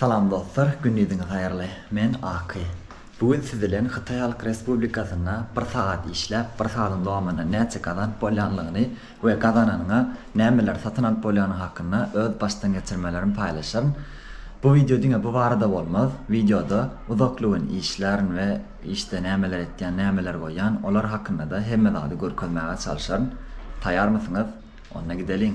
Salam dostlar, gündiziňiz haýyrly. Men Aky. Bu gün siz bilen Hytaý Halk Respublikasynda bir sagat işläp, bir sagadyň dowamynda näçe gazanyp bolýanlygyny we gazananyňa nämeleri satyn alyp bolýany hakynda öz başdan geçirmelerim paýlaşaryn. Bu wideo diňe bu barada bolmaz. Wideoda uzakly gün işlärin we işde nämeler etýän, nämeler goýýan, olar hakynda-da hemme zady görkezmäge çalyşaryn. Taýarmysyňyz? Onda gideliň!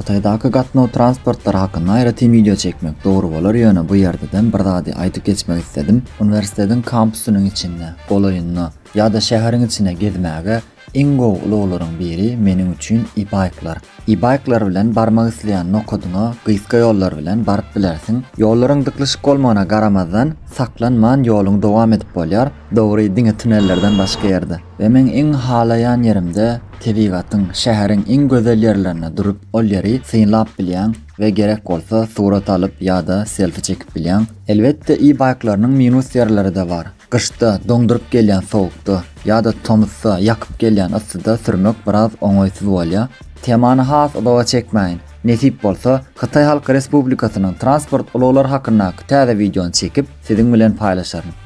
Hytaýdaky gatnaw transportlary hakynda aýratyn wideo çekmek dogry bolar, ýöne bu ýerdeden bir zady aýdyp geçmek isledim. Uniwersitetiň kampusynyň içinde, golaýynda ýa-da şäheriň içine gezmäge iň gowy ulaglaryň biri meniň üçin e-baýklar. E-baýklar bilen barmak isleýän nokadyňa gysga ýollar bilen baryp bilersiň. Ýollaryň dyklyşyk bolmagyna garamazdan, saklanman ýoluňy dowam edip bolýar. Dogry, diňe tunellerden başga ýerde we meň iň halaýan ýerimde tebigatyň, şäheriň iň gözel ýerlerinde durup ol ýeri synlap bilýäň we gerek bolsa surat alyp ýa-da selfi çekip bilýäň. Elbetde e-bike-larynyň minus ýerleri-de bar. Gyşda, doňduryp gelýän sowukda ýa-da tomusda, ýakyp gelýän yssyda sürmek biraz oňaýsyz bolýar. Temany has uzaga çekmäýin. Nesip bolsa, Hytaý Halk Respublikasynyň transport ulaglary hakyndaky täze wideony çekip, siziň bilen paýlaşaryn.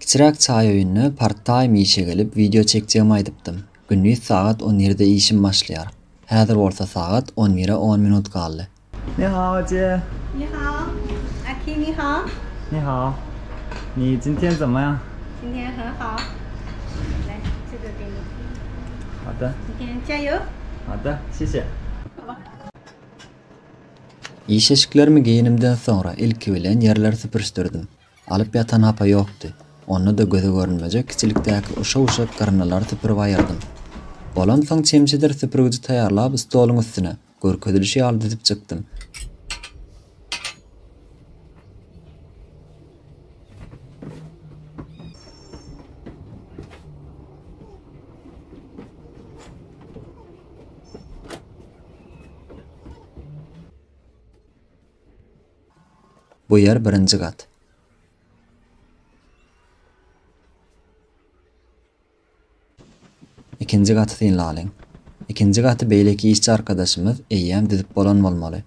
Kiçiräk çaý öýünde part-time işe gelip wideo çekjegimi aýdypdym. Gündiz sagat on ýerde işim başlaýar. Häzir bolsa sagat on bire on minut galdy. Ni hao Jie. Ni hao. Aki ni hao. Ni hao. Ni jin tian zen me yang? Jin tian he hao. Lai, zhe de de ni. Hao de. Jin tian jia you. Hao de, xie xie. Iş eşiklerimi geýenimden soňra ilki bilen ýerleri süpürişdirdim. Alyp ýatan hapa ýokdy. Onda-da göze görünmejek kiçilikdäki uşa-uşa gyrnylary süpürip aýyrdym. Bolamsoň çemçedir süpürgiji taýýarlap stoluň üstüne, görkezilişi ýaly düzüp çykdym. Bu ýer birinji gat. Ikinji gaty synlalyň. Ikinji gaty beýleki işçi arkadaşymyz eýýäm düzüp bolan bolmaly.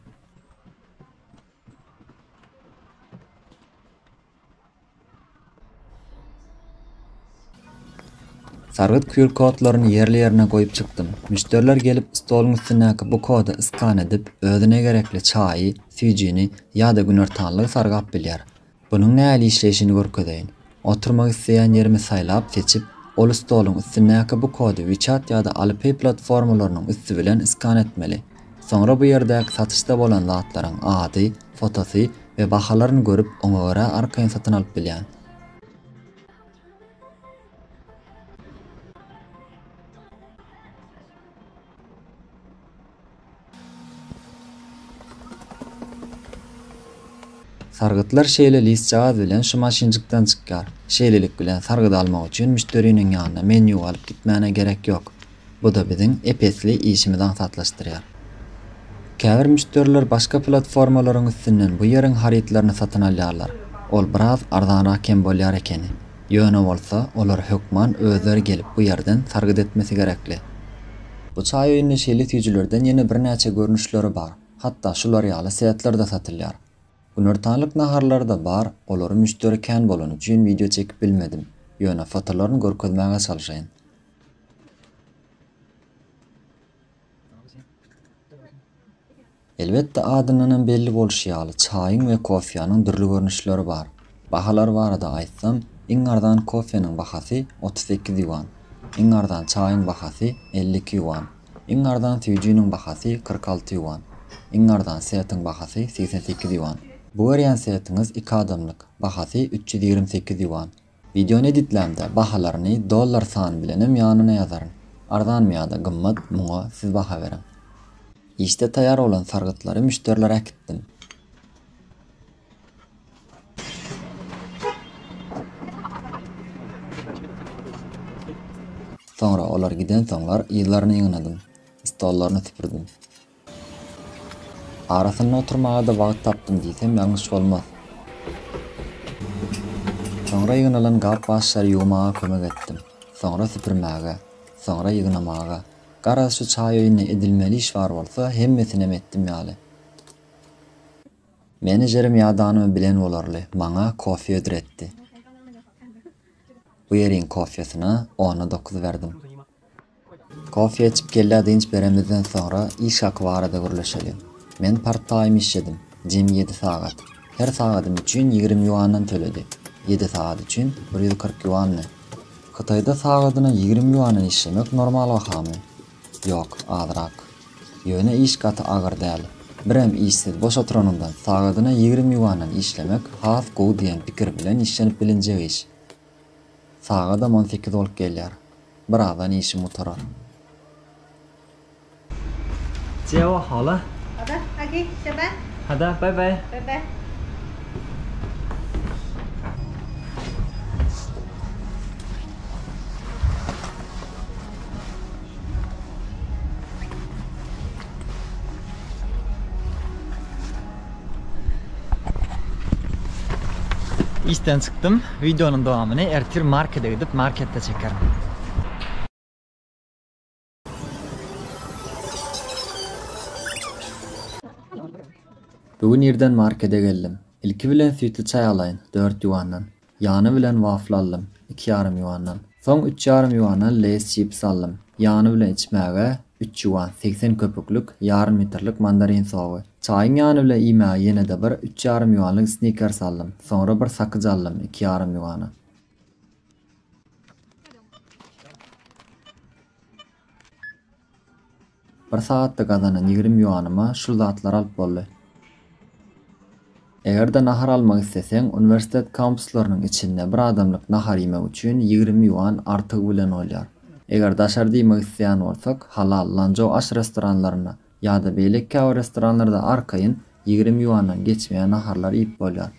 Sargyt QR-kodlaryny ýerli-ýerine goýup çykdym. Müşderiler gelip, stoluň üstündäki bu koda iskan edip, özüne gerekli çaýy, süýjini ýa-da günortanlygy sargap bilýär. Bunuň nähili işleýşini görkezeýin. Oturmak isleýän ýerimi saýlap, seçip, ol stoluň üstündäki bu kody WeChat ýa-da Alipay platformalarynyň üsti bilen iskan etmeli. Soňra bu ýerdäki satyşda bolan zatlaryň ady, fotosy we bahalaryny görüp oňa görä arkaýyn satyn alyp bilýän. Sargytlar şeýle listjagaz bilen şu maşynjykdan çykýar. Şeýlelik bilen sargydy almak üçin müşderiniň ýanyna menýu alyp gitmäne gerek ýok. Bu-da biziň ep-esli işimizi aňsatlaşdyrýar. Käbir müşderiler başga platformalaryň üstünden bu ýeriň harytlaryny satyn alýarlar. Ol biraz arzanrak hem bolýar ekeni. Ýöne bolsa, olar hökman özleri gelip bu ýerden sargyt etmesi gerekli. Bu çaý öýünde şeýle süýjülerden ýene birnäçe görnüşleri bar. Hatda şular ýaly setler-de satylýar. Günortanlyk naharlary-da bar, olary müşderi kän bolany üçin wideo çekip bilmedim. Ýöne fotolaryny görkezmäge çalşaýyn. Elbetde, adyndanam belli bolşy ýaly, çaýyň we kofýanyň dürli görnüşleri bar. Bahalary barada aýtsam, iň arzan kofýanyň bahasy otuz sekiz ýuan, iň arzan çaýyň bahasy elli iki ýuan, iň arzan süýjiniň bahasy kyrk alty ýuan, iň arzan setiň bahasy segsen sekiz ýuan. Bu görýän setiňiz iki adamlyk, bahasy üç ýüz ýigrimi sekiz ýuan, Wideony editlämde bahalaryny dollar sany bilenem ýanyna ýazaryn. Arzanmy ýa-da gymmat, muňa siz baha beriň. Işde taýýar bolan sargytlary müşderilere äkitdim. Soňra olar gidensoňlar yzlaryny ýygnadym. Stollaryny süpürdim. Arasynda oturmaga-da wagt tapdym diýsem ýalňyş bolmaz. Soňra ýygnalan gap-gaçlary ýuwmaga kömek etdim. Soňra süpürmäge. Soňra ýygnamaga. Garaz, şu çaý öýünde edilmeli iş bar bolsa, hemmesinem etdim ýaly. Menejerim ýadanymy bilen bolarly, maňa kofe hödür etdi. Bu ýeriň kofesyna ona dokuz berdim. Kofe içip kellä dynç beremizden soňra iş haky barada gürleşeli. Men part-taým işledim. Jemi ýedi sagat. Her sagadym üçin ýigrimi ýuandan töledi. Ýedi sagat üçin bir ýüz kyrk ýuandy. Hytaýda sagadyna ýigrimi ýuandan işlemek normal bahamy? Ýok, azrak. Ýöne iş gaty agyr däl. Birem işsiz boş oturanyňdan sagadyna ýigrimi ýuandan işlemek has gowy diýen pikir bilen işlenip bilinjek iş. Sagadam on sekiz bolup gelýär. Birazdan işim gutarar. Jewa hala. Ada, hadi, şaba. Hada, bay bay. Bay bay. Işden çykdym. Wideonyň dowamyny ertir markede gidip, marketde çekerin. Bu gün irden markede geldim. Ilki bilen süýtli çaý alaýyn, dört ýuandan. Ýany bilen wafl aldym, iki ýarym ýuandan. Soň üç ýarym ýuana Leýs çipsi aldym. Ýany bilen içmäge, üç ýuan, segsen köpüklik, ýarym litrlik mandarin sogy. Çaýyň ýany bilen iýmäge ýene-de bir üç ýarym ýuanlyk Snickers aldym. Soňra bir sakyja aldym, iki ýarym ýuana. Bir sagatda gazanan ýigrimi ýuanyma şul zatlary alyp boldy. Eger-de nahar almak isleseň, uniwersitet kampuslarynyň içinde bir adamlyk nahar iýmek üçin ýigrimi ýuan artygy bilen bolýar. Eger daşarda iýmek isleýän bolsak, Halal, Lanzhou aş restoranlarynda ýa-da beýleki käbir restoranlarda arkaýyn ýigrimi ýuandan geçmeýän naharlar iýip bolýar.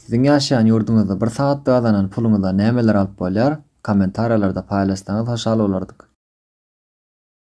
Siziň ýaşaýan ýurduňyzda bir sagatda gazanan puluňyza nämeler alyp bolýar? Kommentariýalarda paýlaşsaňyz hoşal bolardyk.